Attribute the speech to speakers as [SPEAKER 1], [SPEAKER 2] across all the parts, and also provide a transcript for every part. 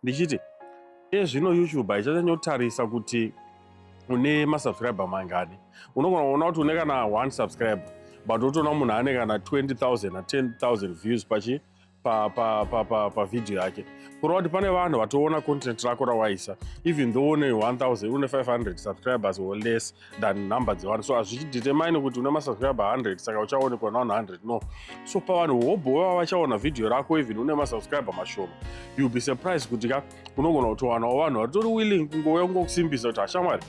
[SPEAKER 1] ndichiti iye zvino youtube haichanyanyotarisa kuti une masubscriber mangani unogona kuona kuti une kana one subscriber but unotoona munhu ane kana 20000 na 10000 views pachi pavhidhiyo yake kureva kuti pane vanhu vatoona content rako rawaisa even though une 1000 une 500 subscribers or less than number dzevanhu so hazvichidetermine kuti une masubscriber 100 saka uchaonekwa navanhu 100 no so pavanhu hobho vava vachaona vhidhiyo rako even une masubscriber mashoma you be surprised kuti ka unogona kutowanawo vanhu vatori willing kungouya kungokusimbisa kuti hashamwari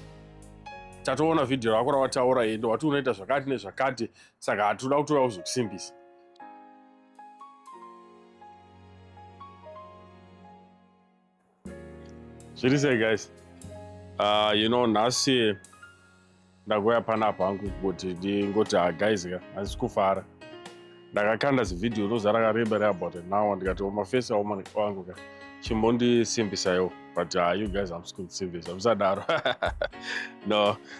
[SPEAKER 1] tatoona vhidhiyo rako rawataura ende wati unoita zvakati nezvakati saka hatoda kutouya kuzokusimbisa zviri sei guys uh, you know nhasi ndakuya panapa hangu kuti ndingoti ha ah, guys ka handisi kufara ndakakanda zivhidhiyo roza rakareba reabout an hour ndikati mafesi aoma wangu ka chimbondisimbisayo but uh, you guys hamsi kundisimbisa musadaro no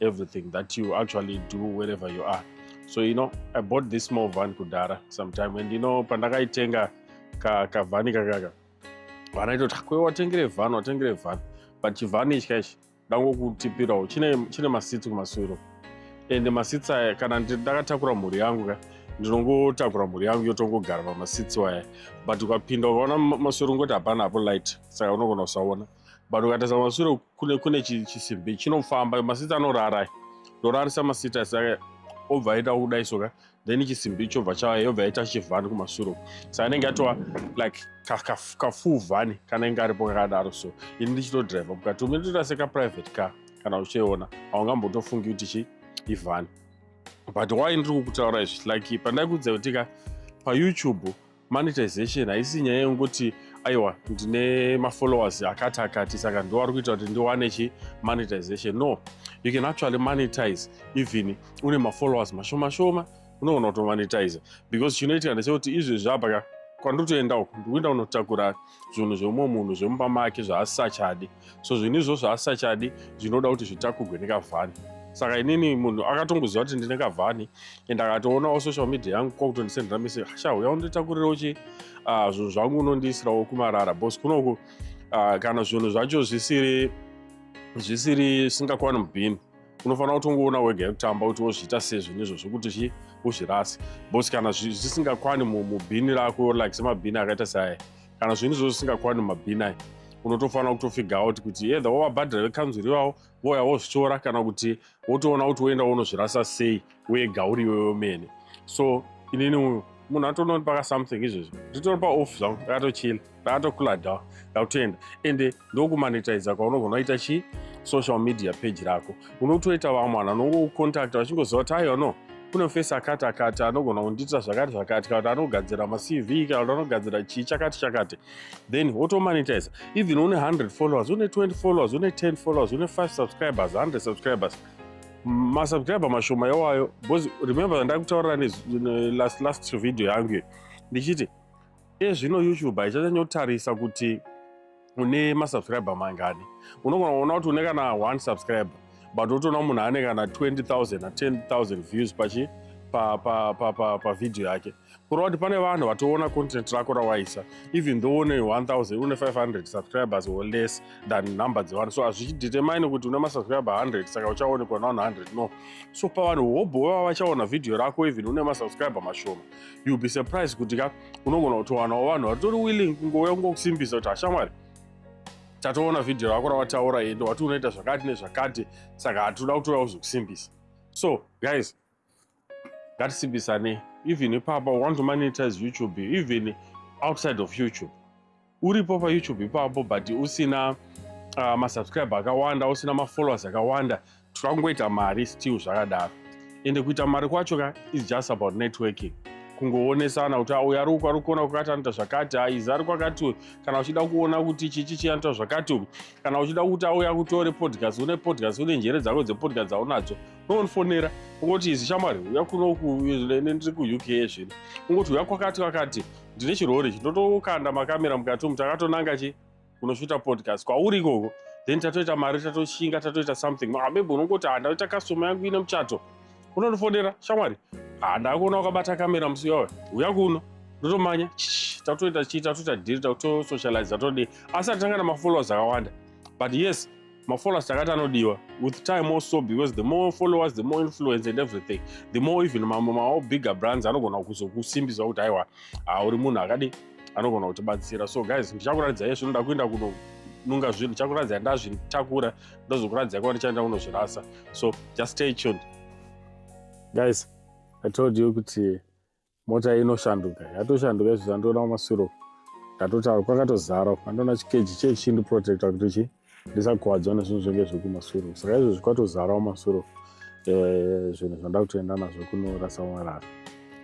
[SPEAKER 1] everything that you actually do wherever you are so you know i bought this small van kudhara sometime and you know pandakaitenga kavhani ka kakaka vana itoti kwe watengere vhani watengere vhani but chivhani ichi kaichi ndangokutipirawo chine, chine masitsi kumaswiro and masitsi aya kana ndakatakura mhuri yangu ka ndinongotakura mhuri yangu yotongogara pamasitsi waya but ukapinda ukaona maswiro ungoti hapana hapo light saka unogona kusaona but ukatarisa masure kune kune chisimbi chinofamba masita anorara ndorarisa masita saka obva aita kudai soka then chisimbi chobva chauya yobva yaita chivhani kumasure uku saka anenge atova like kafuu vhani kanenge aripo kakadaro so ini ndichitodriver mukati ume nditoita sekaprivate car kana uchiona haungambotofungi kuti chi ivhani but why ndiri kukutaura izvi like pandai kudza kutika payoutube Monetization haisi nyaya yekuti aiwa ndine mafollowers akati akati saka ndo ari kuita kuti ndiwane chi monetization no you can actually monetize even une mafollowers mashoma shoma unogona kutomonetiza because chinoitika ndechekuti izvezvi apa ka kwandiri kutoenda uku ndikuenda kunotakura zvinhu zveumwe munhu zvemumba make zvaasisachadi so zvinhu izvozvo asisachadi zvinoda kuti zvitakurwe nekavhani saka inini munhu akatongoziva kuti ndine kavhani and akatoonawo social media yangu kwakutondisendera mese sha uya unditakurirawo chi ah, zvinhu zvangu unondiisirawo kumarara bos kunoku ah, kana zvinhu zvacho zvisiri zvisiri singakwana mubhini unofanira kutongoona wega yekutamba kuti wozviita sei zvinhu izvo zvekuti chi uzvirasi bos kana zvisingakwani mubhini rako like semabhini akaita seaya kana zvinhu izvozvo zvisingakwani mabhini ayo unotofanira kutofiga out kuti either wavabhadhira vekanzuru ivavo vouya wozvitora kana kuti wotoona kuti woenda wonozvirasa sei wega uri iwe wemene so inini uyu munhu atoona kuti paka something izvezvi nditono paoff zvangu ndakatochila ndakatokuladawa ndakutoenda ende ndokumanetizer kwaunobva unoita chi social media page rako unotoita vamwe vanhu anongokucontacta vachingoziva kuti aiwa no kune face akati akati anogona kundiitira zvakati zvakati kana kuti anogadzira macv kana kuti anogadzira chii chakati chakati then wotomanetizer even une 100 followers une 20 followers une 10 followers une 5 subscribers 100 subscribers masubscriber mashoma yawayo because remember ndakutaurira last last video yangu ndichiti Iye zvino YouTube haichachanyotarisa kuti une masubscriber mangani. Unogona kuona kuti une kana one subscriber but utoona munhu ane kana 20000 na 10000 views pachi pa pa pa pa pa video yake kureva kuti pane vanhu vatoona content rako rawaisa even though une 1000 une 500 subscribers or less than number dzevanhu so hazvichidetermine kuti une masubscriber 100 saka uchaonekwa navanhu 100 no so pavanhu hobho vava vachaona video rako even une masubscriber mashoma you'll be surprised kuti ka unogona kutowanawo vanhu vatori willing kungouya kungokusimbisa kuti hashamwari tatoona vhidhiyo rako rawataura ende wati unoita zvakati nezvakati saka hatoda kutouya kuzokusimbisa so guys ngatisimbisanei even ipapa want to monetize youtube even outside of youtube uripo payoutube ipapo but usina uh, masubscribe akawanda usina mafollowers akawanda twakungoita mari still zvakadaro ende kuita mari kwacho ka is just about networking kungoonesana kuti uyu ari uku ari kuona kwakati anoita zvakati aizi ari kwakati uyu kana uchida kuona kuti chichi chii anoita zvakati uku kana uchida kuti auya kutore podcast une podcast une njere dzako dzepodcast dzaunadzo unondifonera ungoti izi shamwari uya kunoku ndiri kuuk zvino ungoti uya kwakati kwakati ndine chirori ichi ndotokanda makamera mukati umu takatonanga chi kunoshuta podcast kwauri ikoko then tatoita mari tatoshinga tatoita something ah, maybe unongoti ah, ndaita customer yangu ine muchato unondifonera shamwari ah, ndakuona wakabata kamera musi wawe uya kuno ndotomanya tatoita chii tatoita dhiri tatosocialize tatodii asi atitanga namafollowers akawanda but yes mafollowers takati anodiwa with time also because the more followers the more influence and everything the more even mamwe mawo bigger brands anogona kuzokusimbisa kuti aiwa ah, uri munhu akadi anogona kutibatsira so guys ndichakuratidza yesvo ndoda kuenda kunonunga zvinhu ndichakuratidza ndazvitakura ndozokuratidza kwa ndichaenda kunozvirasa so just stay tuned guys i told you kuti Mota inoshanduka yatoshanduka izvo zvandiona kumaswiro ndatotaura kwakatozara andoona chikeji chee chindiprotecta kuti chi ndisakuvadzwa nezvinhu zvenge zvekumaswiro saka izvozvi kwatozara kumaswiro eh, zvinhu zvanda kutoenda nazvo kunorasa marara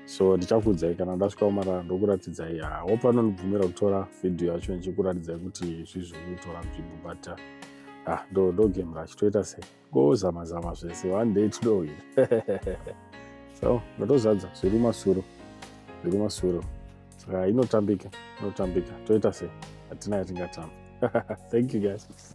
[SPEAKER 1] so ndichakuudzai kana ndasvika kumarara ndokuratidzai hope anondibvumira kutora vhidhiyo yacho ndichikuratidzai kuti zvizvi kutora nzvimbo but ah, ndogemra achitoita sei Ngozama zama zvese one day today. so ndotozadza zviri masuro zviri masuro saka inotambika inotambika toita sei hatina yatingatamba thank you guys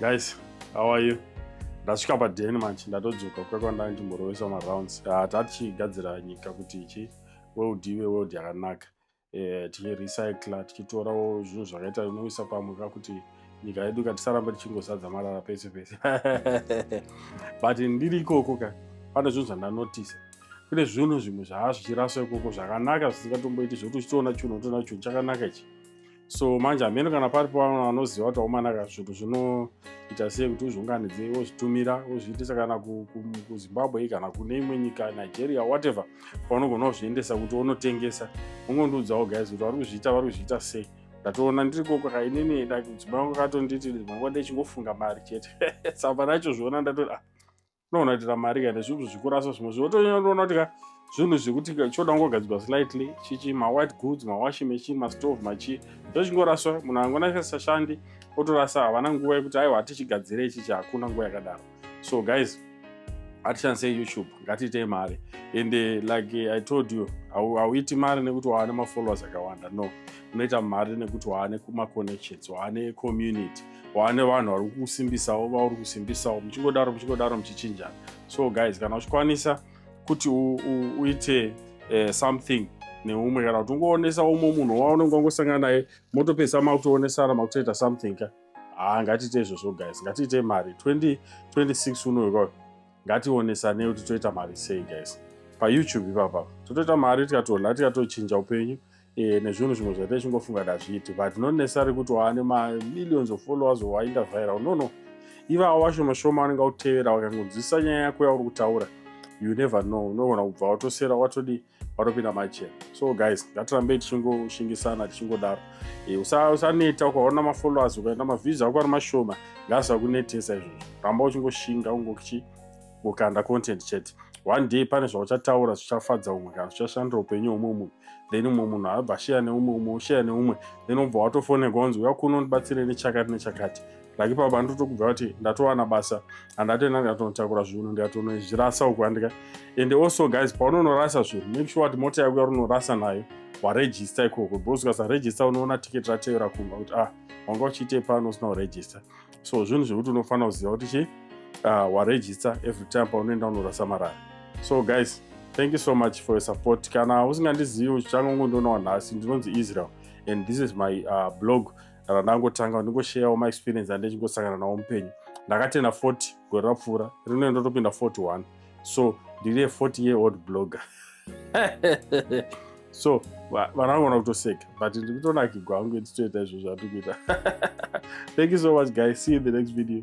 [SPEAKER 1] guys how are you ndasvika paden manje ndatodzoka kuya kwandanga ndichimborovesa marounds ah, tatichigadzira nyika kuti ichi world ive world yakanaka eh, tichirecycla tichitorawo zvinhu zvakaita inoisa pamwe ka kuti nyika yedu ka tisaramba tichingozadza marara pese pese but ndiri ikoko ka pane zvinhu zvandanotisa kune zvinhu zvimwe zvaa zvichiraswa ikoko zvakanaka zvisingatomboiti zvekuti uchitoona chunhu utoona chunhu chakanaka ichi so manje hameno kana pari pavana vanoziva kuti aumanaka zvinhu zvinoita sei kuti uzviunganidze wozvitumira wozviitisa kana kuzimbabwe kana kune imwe nyika nigeria whatever paunogona kuzviendesa kuti unotengesa ungondiudzawo guys kuti vari kuzviita vari kuzviita sei ndatoona ndiri kokoka inini mudzimai wangu akatonditi manguva ndichingofunga mari chete saka panachozviona ndatoti ah unoona kuti ramari kana zvinhu zvikurasa zvimwe zvinhu otonyatona kuti ka zvinhu zvekuti choda kungogadzirwa slightly chichi mawhite goods mawashing machine mastove machii zvochingoraswa munhu angonasashandi otorasa havana nguva yekuti aiwa hatichigadzire ichichi hakuna nguva yakadaro so guys hatishandisei youtube ngatiitei mari and eh, like eh, i told you hauiti mari nekuti waane mafollowers akawanda no unoita mari nekuti waane kumaconnections waane community wane vanhu vari kusimbisawo vauri kusimbisawo muchingodaro muchingodaro muchichinjana so guys kana uchikwanisa kuti uite eh, something neumwe kana kuti ungoonesa umwe munhu waunenge wangosangana naye motopedzisa makutoonesana makutoita something ka haa ngatiite izvozvo guys ngatiite mari 2026 unoyo kwayo ngationesanei kuti toita mari sei guys payoutube ipapa totoita mari tikatoona tikatochinja upenyu e, nezvinhu zvimwe zvaita ichingofunga kuti hazviiti but not necessary kuti waane mamillions of followers wainda viral no no ivawo vashoma shoma vanenge vautevera vakangonzwisisa nyaya yako yauri kutaura you never know unogona kubva watosera watodi watopinda machena so guys ngatirambei tichingoshingisana tichingodaro e, usaneta usa ukaona mafollowers ukaenda mavhizi ako ari mashoma ngaasakunetesa izvozvo ramba uchingoshinga ungochi kukanda content chete one day pane zvauchataura zvichafadza umwe kana zvichashandira upenyu hweumwe munhu then umwe munhu abva sheya neumwe umwe usheya neumwe then ubva watofoneka wanzi uya kuno ndibatsire nechakati nechakati like ipapa ndotokubva kuti ndatowana basa andatoenda ndikatonotakura zvinhu ndikatonozvirasa uku andika and also guys paunonorasa zvinhu make sure kuti mota yako yarunorasa nayo waregista ikoko because ukasaregista unoona ticket rateyora kumba kuti ah wanga uchiitei pano usina kuregista so zvinhu zvekuti unofanira kuziva kuti chii uh, waregister every time paunoenda unorasa marara so guys thank you so much for your support kana usingandizivi uchichangongondonawa nhasi ndinonzi israel and this is my uh, blog randangotanga ndingoshayawo maexperience andechingosangana nawo mupenyu ndakatena 40 gore rapfuura rinoenda topinda 41 so ndiri a 40 year old blogger so vana vangona kutoseka but ndiri kutonakigwa hangu nditoita izvo zvatiri kuita thank you so much guys see you in the next video